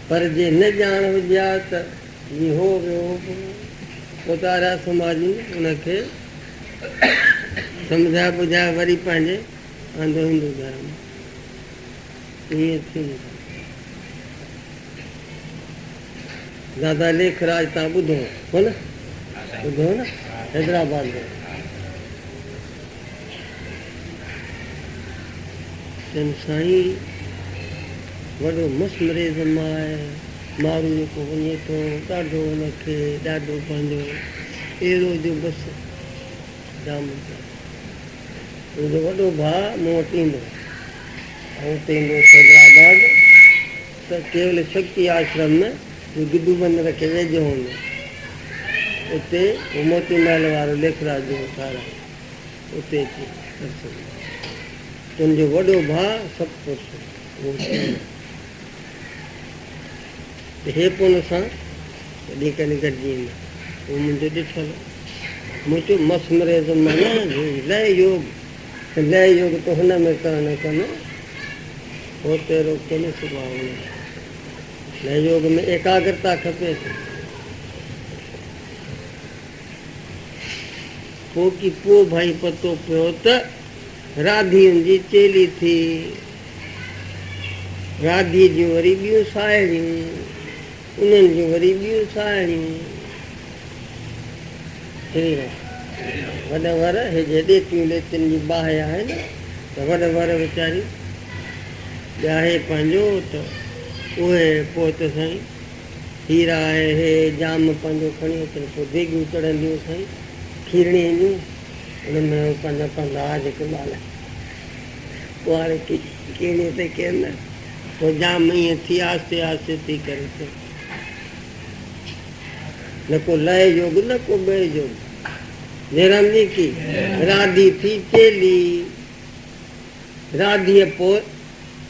پر جي نه ڄاڻ هجي ها ته جي هو ويو هو پوء ته آريا سماجين ان کي سمجهائي ٻجهائي وري پنهنجي آندو هندو ڌرم ائين ٿي نه سگهندو. دادا ليک راج تان ٻڌو هو نه ٻڌو هو نه حيدرآباد ۾. ڪن سائين وڏو مس مريض ماء مارو جيڪو وڃي ٿو ڏاڍو ان کي ڏاڍو پنهنجو اهڙو جو بس دامن تي ان جو وڏو ڀاء مون وٽ ايندو آئون اتي ايندو هيس حيدرآباد ته ڪيول شڪتي آشرم ۾ جو گڊو بندر کي ويجهو هوندو اتي موتي محل وارو ليکراج جو سارنگ اتي ڪي عرصي لاء ان جو وڏو ڀاء سڀ ڪجهه اهو شهر ته هي پون سان ڪڏهن ڪڏهن گڏجي ايندا هو منهنجو ڏٺل مون چيو مس مريض مان لئه يوگ ته لئه يوگ ته هن ۾ ڪرڻ ڪن هو تيرو ڪن سڀاء ان جو لئه يوگ ۾ ايڪاگرتا کپي ٿي هو ڪي پوء ڀائي پتو پيو ته راڌين جي چيلي ٿي. راڌي جون وري ٻيون ساهيڙيون، انهن جون وري ٻيون ساهيڙيون. وڏ ور هي جي ڏيتيون ليتين جي باهه آهي نه ته وڏ ور ويچاري ڄاهي پنهنجو ته اهي پوء ته سائين هي راء هي ڄام پنهنجو کڻي اچن پوء ديڳون چڙهنديون سائين کيرڻي اينديون ان ۾ هو پنهنجا پندا آ جيڪي ٻال ڪنواري کيرڻي تي ڪين نه پوء ڄام ائين ٿي آهستي آهستي ٿي ڪري ته نه ڪو لئه جوڳ نه ڪو ٻئه جوڳ نيران جي ڪي راڌي ٿي چيلي راڌيء پوء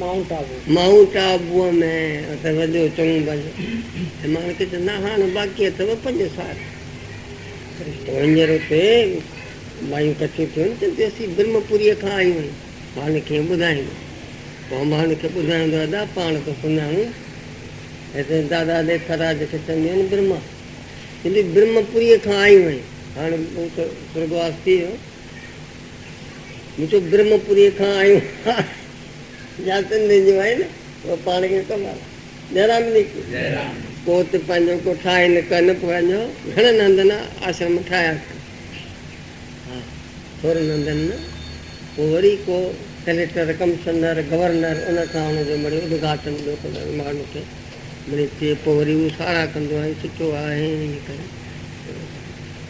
مائونٽ آبو. مائونٽ آبوء ۾ ته وڌيو چڱو ڀلو ۽ مان کي چوندا هاڻ باقي اٿئو پنج سال سرشتو هينئر اتي مايون ڪٺيون ٿيون چون ٿيون اسين برهم پوريء کان آيون آهيون هاڻ ڪيئن ٻڌائيندو پوء هاڻ کي ٻڌائيندو ادا پاڻ ته سڃاڻون هتي دادا ديکاراج کي چونديون آهن برهما چوندي برهم پوريء کان آيون آهيون هاڻ هو ته سرڳواس ٿي ويو. مون چيو برهمه پوريء کان آيون ها جا سنڌين جون آهن اهي پاڻ کي ڪم وارا جئرام نيڪي ڪو ته پنهنجو ڪو ٺاهي نه ڪن پوء اڃا گهڻن هنڌن آشرم ٺاهيا ٿي ها ٿورن هنڌن نه پوء وري ڪو ڪليڪٽر ڪمشنر گورنر ان کان ان جو مڙي ادگهاٽن ٻيو ڪندو آهي ماڻهن کي مڙي چئي پوء وري هو ساراهه ڪندو آهي سٺو آهي ائين ڪري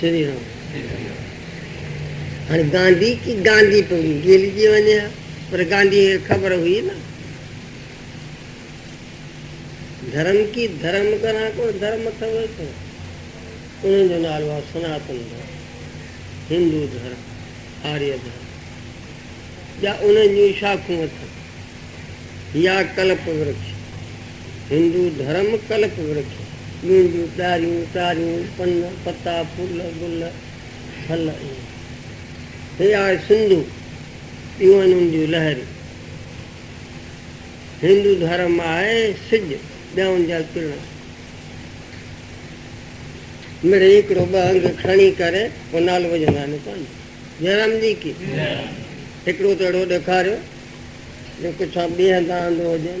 شري رام هاڻي گانڌي ڪي گانڌي پئي گيلجي وڃي ها پر گانڌي کي خبر هئي نه ڌرم ڪي ڌرم ڪران ڪو ڌرم اٿو ٿو ان جو نالو آ سناتن ڌرم هندو ڌرم آري ڌرم ٻيا ان جون شاخون اٿن يا ڪلپ ورکش هندو ڌرم ڪلپ ورکش، ٻينڊيون، ڏاريون، ٽاريون، پن، پتا، ڦل، گل، ڦل ۽ هي آهي سنڌو، اهيون آهن ان جون لهريون. هندو ڌرم آهي سج، ٻيا ان جا ڪرڻ آهن. مڙئي هڪڙو ٻه انگ کڻي ڪري پوء نالو وجهندا آهن پنهنجو. جئرام جي ڪي هڪڙو ته اهڙو ڏيکاريو جو پڇان ٻيهندا آندو هجن.